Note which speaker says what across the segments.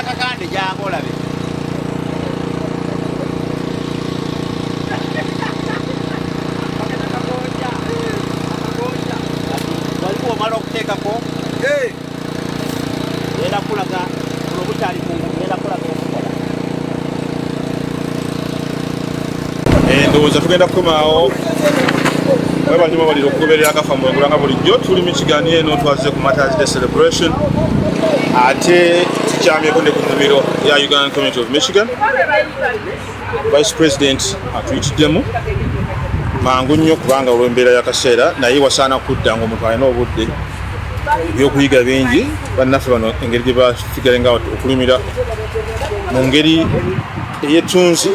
Speaker 1: kakande jangu olabe waliwo omala okuteekako era kulaga olwo bukyali kungu era kulaga
Speaker 2: eh, ndowooza tugenda kukomaawo webanyuma balira okugoberera agafa mwengula nga bulijjo tuli mu kigani eno twazize ku matters day celebration ate tukyamyeko ne ku nnimiro ya ugandan community of michigan vice president atuyitiddemu mangu nnyo kubanga olw'embeera y'akaseera naye wasaana kudda ng'omuntu alina obudde ebyokuyiga bingi bannaffe bano engeri gye basigale nga okulimira mu ngeri eyetunzi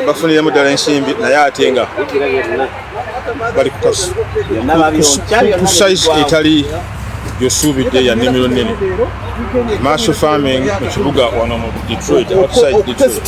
Speaker 2: bafuniremu ddala ensimbi naye ate nga bali ku size etali gyosuubidde ya nnimiro nnene marshal farming mu kibuga wano mu detroit outside detroit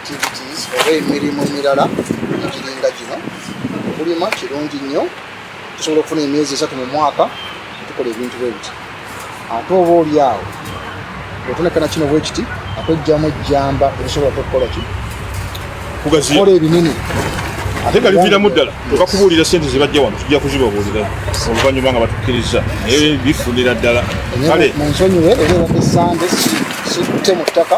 Speaker 3: activities oba emirimu emirala egiringa gino okulima kirungi nnyo tusobola okufuna emyezi esatu mu mwaka tukola ebintu bwe biti ate oba oli awo otonekana kino bwe kiti akwejjamu ejjamba esobola tokukola ki kugaziakola ebinene ate nga
Speaker 2: liviiramu ddala okakubuulira sente zebajja wano tujja kuzibabuulira oluvannyuma nga batukkiriza naye bifunira ddala kale munsonyiwe era ebadde
Speaker 3: sande sitte mu ttaka